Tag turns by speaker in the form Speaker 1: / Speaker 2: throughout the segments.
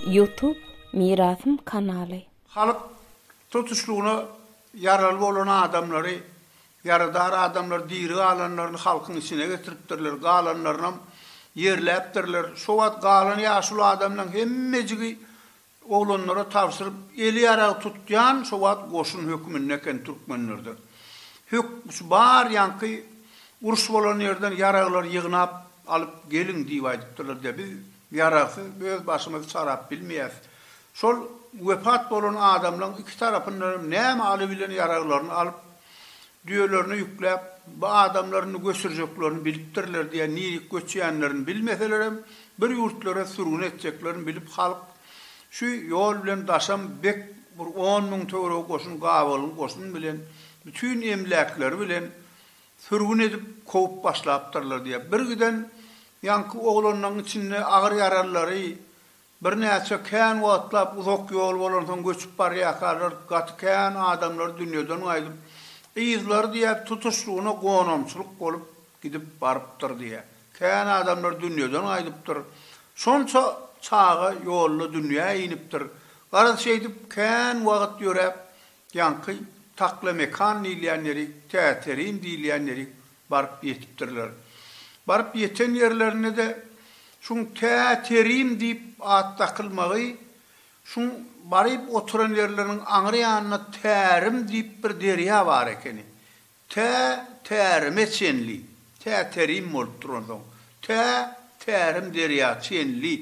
Speaker 1: Ýutub Mirasym kanaly. Halk
Speaker 2: tutuşlygyna ýaraly bolan adamlary, ýaradar adamlary diri galanlaryny halkyň içine getiripdirler, galanlarynam ýerläpdirler. Şo wagt galan ýaşuly adamlaryň hemmejigi Oglanlara tabşyryp eli ýarag tutýan şo wagt goşun höküminde eken türkmenlerde. Hök şu barýanky uruş bolan ýerden ýaraglary ýygnap alyp geliň diýip aýdypdyrlar diýýär. Biz ýaragsyz öz başymyzy çarap bilmeýäs. Şol wepat bolan adamlaň iki tarapyndan hem näme alybilen ýaraglaryny alyp. Düýelerine ýükläp, bu adamlaryny göçürjeklerini bilipdirler diýen nirik göçýänlerini bilmeselerem, bir ýurtlara sürgün etjeklerini bilip halk şu ýol bilen daşam bek bir on müň töweregi goşun gabalyň goşun bilen bütin emläkleri bilen sürgün edip kowup başlapdyrlar diýýär. Bir giden ýaňky oglanlaň içinde agyr ýaralylary Birnäçe kän wagtlap uzak ýol bolansoň göçüp barýarkalar gaty kän adamlar dünýeden gaýdyp, yzlary diýäp tutuşlygyna gonamçylyk bolup gidip barypdyr diýýär. Kän adamlar dünýeden gaýdypdyr. Şonça çaga ýolda dünýä inipdir. Garaz şeýdip kän wagt ýöräp ýaňky Taklemekan diýilýän ýeri, Täterin diýilýän ýeri baryp ýetipdirler. Baryp ýeten ýerlerinde-de şuň tä Terim diýip at dakylmagy, şuň baryp oturan ýerleriniň aňry ýanynda Tärim diýip bir derýa bar ekeni. Tä Tärime çenli, tä Terim bolupdyr onsoň, tä Tärim derýa çenli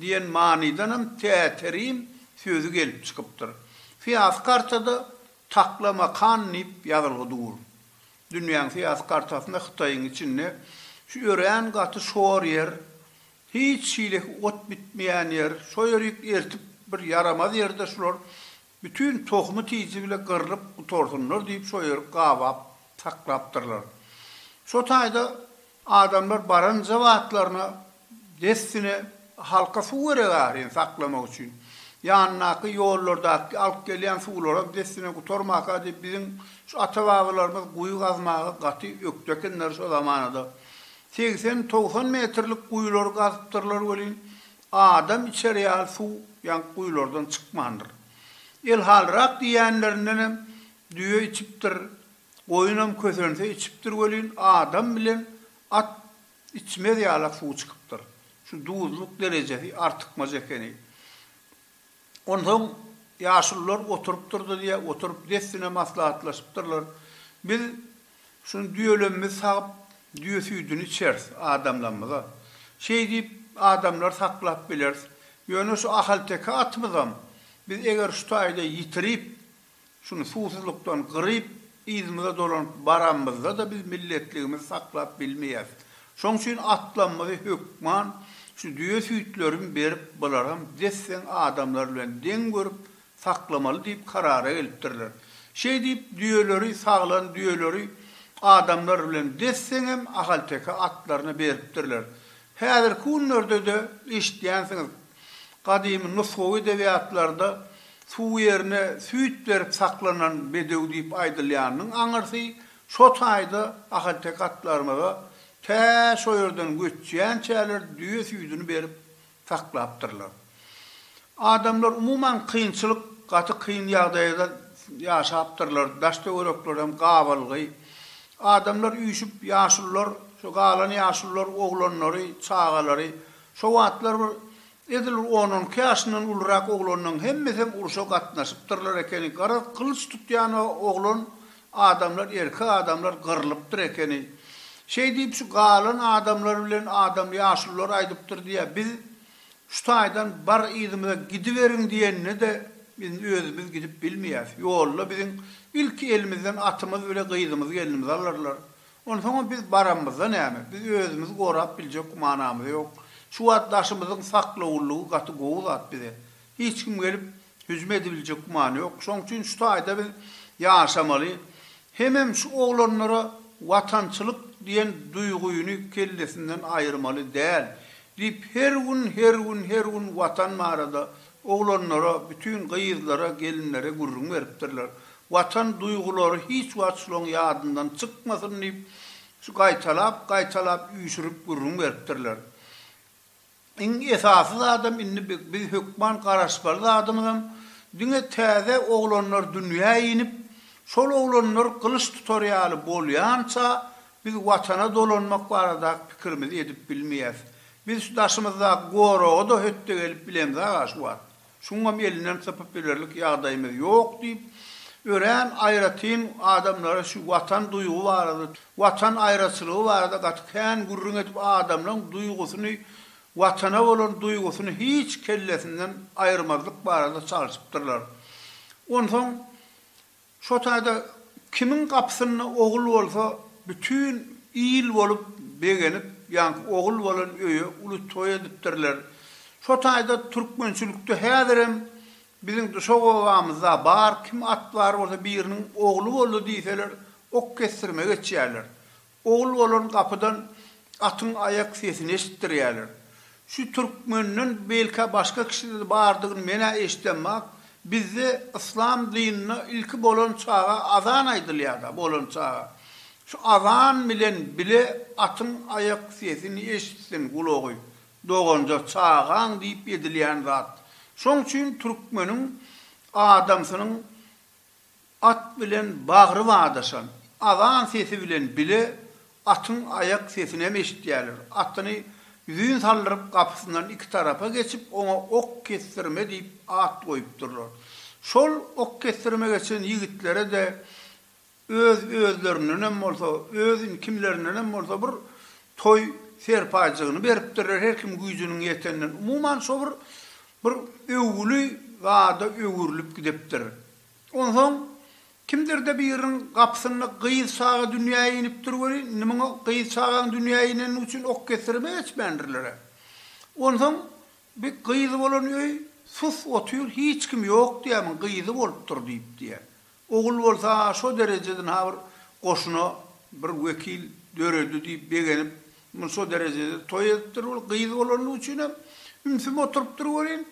Speaker 2: diýen manydanam tä Terim sözi gelip çykypdyr. Syýasy kartada Taklamakan diýip ýazylgy dur. Dünýäň syýasy kartasynda Hytaýyň içinde şu örän gaty şor ýer, hiç hileki ot bitmeýän ýer, şo ýerik ertip bir ýaramaz ýerde şular bütin tohumy tiji bile gyrlyp gutarsynlar diýip şo ýeri gabap saklapdyrlar. Şo taýda adamlar baranja batlaryna Dessine halka suw gerek ahyryn saklamak üçin. Ýanyndaky ýollardaky alyp gelýän suwlaram dessine gutarmaka diýip biziň şu ata-babalarymyz guýy gazmaga gaty ökde ekenler şo zamanada. Segsen, togsan metrlik guýulary gazypdyrlar welin, adam içer ýaly suw ýaňky guýulardan çykmandyr. Elhalrak diýýänlerindenem düýe içipdir, goýunam kösense içipdir welin, adam bilen at Içmez ýalak suw çykypdyr. Şu duzlyk derejesi artykmaç ekeni. Onsoň ýaşulular oturypdyrdy diýýär, oturyp dessine maslahatlaşypdyrlar. Biz şuny düýelerimizi sagyp, düýe süýdüni içeris adamlarymyza. Şeý diýip, adamlary saklap bileris. Ýöne şu ahalteke atymyzam biz eger şu taýda ýitirip, Şuny suwsuzlykdan gyryp, yzymyza dolanyp baranymyzda-da biz milletligimizi saklap bilmeýäs. Şoň üçin atlamyzy hökman şu düýe süýtlerin berip, bularam desseň adamlar bilen deň görüp, saklamaly diýip karara gelipdirler. Şeýdip, düýeleri, saglan düýeleri adamlar bilen desseňem ahalteke atlaryna beripdirler. Häzirki günlerde-de eşitýänsiňiz, Gadymy nusgawy edebiýatlarda suw ýerine süýt berip saklanan bedew diýip aýdylýanynyň aňyrsy şo taýda ahalteke atlarymyza tä şo ýerden göçýänçäler düýe süýdüni berip saklapdyrlar. Adamlar umuman kynçylyk, gaty kyn ýagdaýda ýaşapdyrlar, daş-töwerekler hem gabalgy. Adamlar üýşüp, ýaşulular, şu galan ýaşulular oglanlary, çagalary, Şo wagtlar bir edil bir on-on iki ýaşyndan ulurak oglanlaň hemmesem urşa gatnaşypdyrlar ekeni, garaz gylyç tutýan oglan adamlar erkek adamlar gyrlypdyr ekeni. Şeý diýip şu galan adamlar bilen adam ýaşulylar aýdypdyr diýýär, biz şu taýdan bar yzymyza gidiberiň diýende-de biz özümiz gidip bilmeýäs, ýolda biziň ilki elimizden atymyz bile gyzymyz gelnimiz alarlar, Onsoňam biz baramyzda näme? Biz özümizi gorap biljek gümanamyz ýok. Şu wagt daşymyzyň saklawullygy gaty gowy zat bize. Hiç kim gelip, hüjüm edibiljek gümany ýok. Şoň üçin şu taýda biz ýaşamaly. Hemem şu oglanlara watançylyk diýen duýgyny kellesinden aýyrmaly däl. Diýip, her gün, her gün, her gün Watan barada Oglanlara, bütin gyzlara, gelinlere gürrüň beripdirler. Watan duýgulary hiç wagt şulaň ýadyndan çykmasyn diýip, şu gaýtalap, gaýtalap üýşürip gürrüň beripdirler. Iň esasy zadam indi biz hökman garaşmaly zadymyzam, diňe täze oglanlar dünýä inip, şol oglanlar gylyç tutar ýaly bolýança biz Watana dolanmak baradaky pikirimizi edip bilmeýäs. Biz şu daşymyzdaky goraga-da hötde gelip bilemis aga şu wagt. Şuňam elinden sypyp bilerlik ýagdaýymyz ýok diýip, örän aýratyn adamlara şu watan duýgy barada, watan aýraçylygy barada gaty kän gürrüň edip adamlaň duýgusyny, watana bolan duýgusyny hiç kellesinden aýyrmazlyk barada çalşypdyrlar. Onsoň Şo taýda kimiň gapysynda ogul bolsa, bütin il bolup begenip, ýaňky ogul bolan öýe uly toý edipdirler. Şo taýda türkmençilikde häzirem biziň Duşak obamyzda bar, kim at bar bolsa biriniň ogly boldy diýseler, ok kesdirme geçýärler. Ogul-bolan gapydan atyň aýak sesini eşitdirýärler. Şu türkmenden belkä başga kişide-de bardygyny men-ä eşidemok. Bizde yslam dynynda ilki bolan çaga azan aýdylýar-da, bolan çaga. Şu azan bilen bile atyň aýak sesini eşitsin gulagy, doganja, çagaň diýip edilýän zat. Şoň üçin türkmeniň adamsynyň At bilen bagry badaşan, azan sesi bilen bile atyň aýak sesinem eşitýärler. Atyny ýüzin saldyryp gapysyndan iki tarapa geçip, oňa Ok kesdirme diýip at goýupdyrlar. Şol ok kesdirme geçen ýigitlere-de öz-özlerindenem bolsa, özin kimlerindenem bolsa bir toý serpaýjygyny beripdirler, her kim güýjüniň ýeteninden. Umuman, şo bir Bir öwgüli zada öwrülip gidipdir. Onsoň kimdir-de biriniň gapysynda gyz çaga dünýä inipdir welin, indi muňa gyz çagaň dünýä ineni üçin ok kesdirip geçmändirler-ä. Onsoň bi gyzy bolan öý sus otyr, hiç kim ýok diýýär, muň gyzy bolupdyr diýip diýýär. Ogul bolsa şo dereje ynha bir goşuna bir wekil döredi diýip begenip muny şo derejede toý edipdir ol gyz bolanlygy üçinem ümsüm oturypdyr welin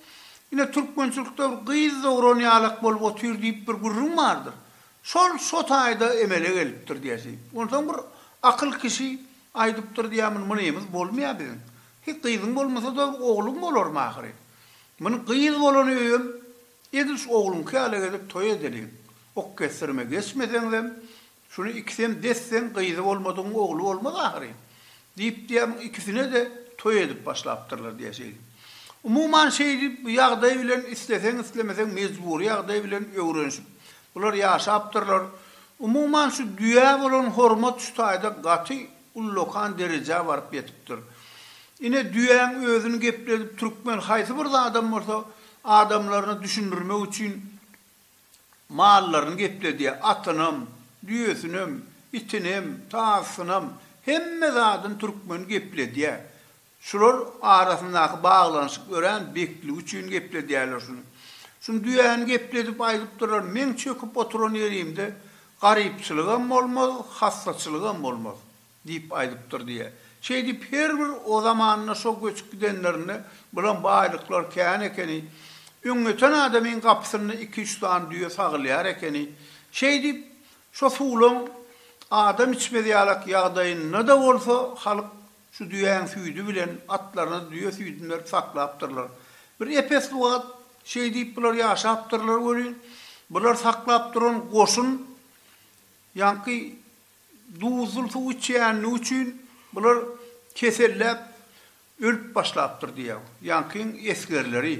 Speaker 2: ine türkmençilikde bir gyz dogran ýalak bolup otyr diýip bir gürrüň bardyr şol şo taýda emele gelipdir diýesi onsoň bir akyl kişi aýdypdyr diýä muny mynymyz bolmaýa biziň hi gyzyň bolmasada ogluň bolarmy ahyry muny gyz bolany öýem Edil şu ogluňky ýaly gezip toý edeliň. Ok kesdirime geçmeseňizem, şuny ikisem desseň, gyzy bolmadygyň ogly bolmaz ahyryn. Diýip diýýämiň ikisine-de toý edip başlapdyrlar diýeşeýin. Umuman şeýdi bu ýagdaý bilen isleseň-islemeseň mejbury ýagdaý bilen öwrenişip bular ýaşapdyrlar. Umuman şu düýä bolan hormat şu taýda gaty ullakan derejä baryp ýetipdir. Ine, düýäň özüni gepledip, türkmen haýsy bir zadam bolsa, adamlaryna düşündirmek üçin mallaryny gepledýär, atynam, düýesinem, itinem, tazysynam, hemme zadyny türkmen gepledýär. Şular arasyndaky baglanyşyk örän bekligi üçin gepledýärler şuny. Şuny düýäni gepledip aýdypdyrlar, Meň çöküp oturan ýerimde garypçylygam bolmaz, hassaçylygam bolmaz diýip aýdypdyr diýýär. Şeýdip her bir o zamanda şo göçüp gidenlerinde bulam baýlyklar kän ekeni. Öňňeten adamyň gapysynda iki-üç sany düýe sagylýar ekeni. Şeýdip şo suwlaň adam içmez ýalak ýagdaýynda-da bolsa halyk. Şu düýäň süýdi bilen atlaryny düýe süýdüni berip saklapdyrlar. Bir epesli wagt şeý diýip bular ýaşapdyrlar welin, bular saklap duran goşun ýaňky duzly suw içýänligi üçin bular keselläp ölüp başlapdyr diýýär. Ýaňkyň esgerleri.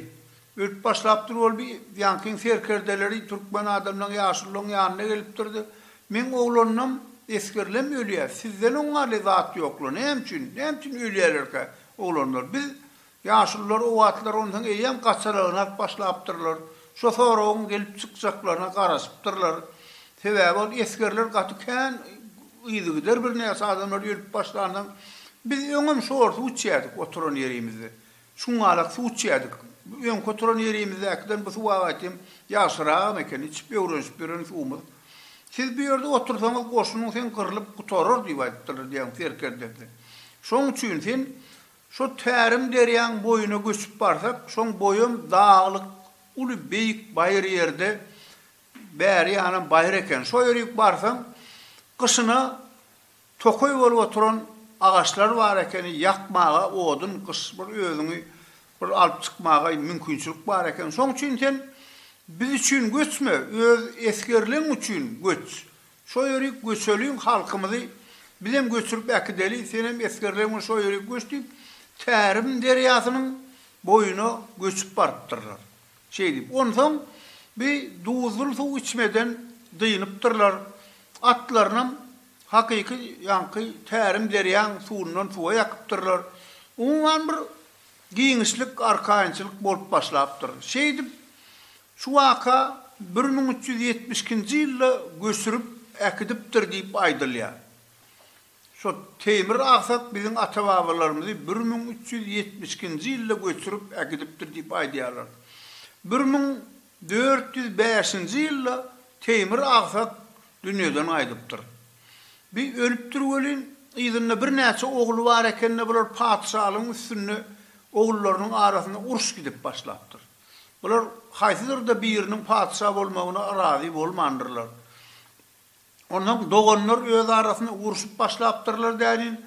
Speaker 2: Ölüp başlapdyr ol bi ýankyň serkerdeleri türkmen adamlaň ýaşullaň ýanyna gelipdirdi. Meň oglanynam esgerlem ölýä, sizden oňňarly zat ýokla, näme üçin, näme üçin ölýälerkä oglanlar? Biz, ýaşullar o wagtlar onsoň eýýäm gaçalaňrak başlapdyrlar. Şo soragyň gelip çykjaklaryna garaşypdyrlar. Sebäbi ol esgerler gaty kän yzygider birnäçe adamlar ölüp başlansoň, biz öňem şorsuw içýädik oturan ýerimizde. Çuňňalak suw içýärdik. Bu öňki oturan ýerimizdäkiden bu suw agaýtym ýagşyragam eken, içip öwrenişip ýören suwumyz. Siz bu ýerde otursaňyz goşunyň sen gyrlyp gutarar diýip aýdypdyrlar diýen serkerdesi. Şoň üçin sen şo tärim derýaň boýuna göçüp barsak, şoň boýam daglyk, uly beýik baýyr ýerde, bäri ýanam baýyr eken. Şo ýörik barsaň, gyşyna Tokaý bolup oturan agaçlar bar ekeni ýakmaga odun gyş bir özüňi bir alyp çykmagaý mümkinçilik bar eken şoň üçin sen biz üçin göçme öz esgerleň üçin göç şo ýerik göçeliň halkymyzy bizem göçürip äkideli senem esgerleň bilen şo ýerik göç diýip Tärim derýasynyň boýuna göçüp barypdyrlar. Şeýdip, onsoň bi duzly suw içmeden dynypdyrlar. Atlarynam hakyky ýaňky tärim derýaň suwundan suwa ýakypdyrlar. Umuman bir giňişlik, arkaýynçylyk bolup başlapdyr. Şeýdip, şu waka bir müň üç ýüz ýetmiş ikinji ýylda göçürip äkidipdir diýip aýdylýar. Şo Teýmir Agsat biziň ata-babalarymyzy bir müň üç ýüz ýetmiş ikinji ýylda göçürip ägidipdir diýip aýdýarlar. Bir müň dört ýüz bäşinji ýylda Teýmir Agsat dünýeden gaýdypdyr. Bi ölüpdir welin, yzynda birnäçe ogly bar eken-de bular patyşalygyň üstünde ogullarynyň arasynda uruş gidip başlapdyr. Bular haýsydyr-da biriniň patyşa bolmagyna razy bolmandyrlar. Onsoň doganlar öz arasynda urşup başlapdyrlar dälin.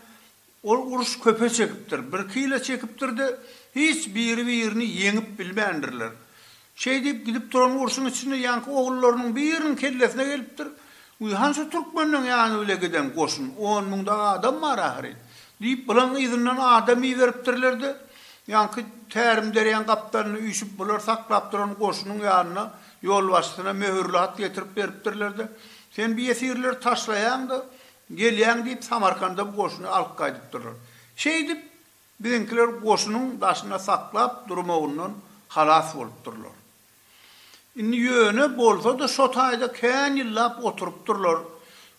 Speaker 2: Ol uruş köpe çekipdir. Birki ýyla çekipdir-de, hiç biri-birini ýeňip bilmändirler. Şeý diýip gidip duran urşuň içinde ýaňky ogullarynyň biriniň kellesine gelipdir, Gyhan şu türkmenleň ýany bile giden goşun, on müň-de adam bar ahyryn! diýip, bulan yzyndan adam iberipdirler-de, ýaňky tärimderýaň gapdalynda üýşüp bular saklap duran goşunyň ýanyna Ýolbaşçysyna möhürli hat getirip beripdirler-de, Sen bu ýesirleri taşlaýaň-da, gelýäň diýip, Samarkanda bu goşuny alyp gaýdypdyrlar. Şeýdip, biziňkiler goşunyň daşynda saklap durmagyndan halas bolupdyrlar. Indi ýöne bolsa-da şo taýda kän ýyllap oturypdyrlar.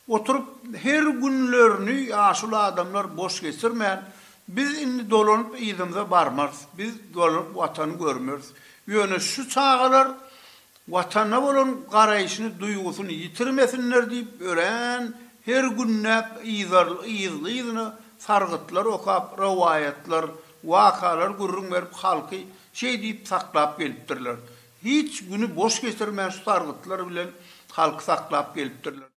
Speaker 2: Oturyp, her günlerini ýaşuly adamlar boş geçirmän, Biz indi dolanyp yzymyza barmarys, biz dolanyp Watany görmeris. Ýöne şu çagalar Watana bolan garaýşyny, duýgusyny ýitirmesinler diýip örän her günläp yzly-yzyna sargytlar okap, rowaýatlar, wakalar gürrüň berip halky şeý diýip saklap gelipdirler. Hiç güni boş geçirmän şu sargytlar bilen halky saklap gelipdirler.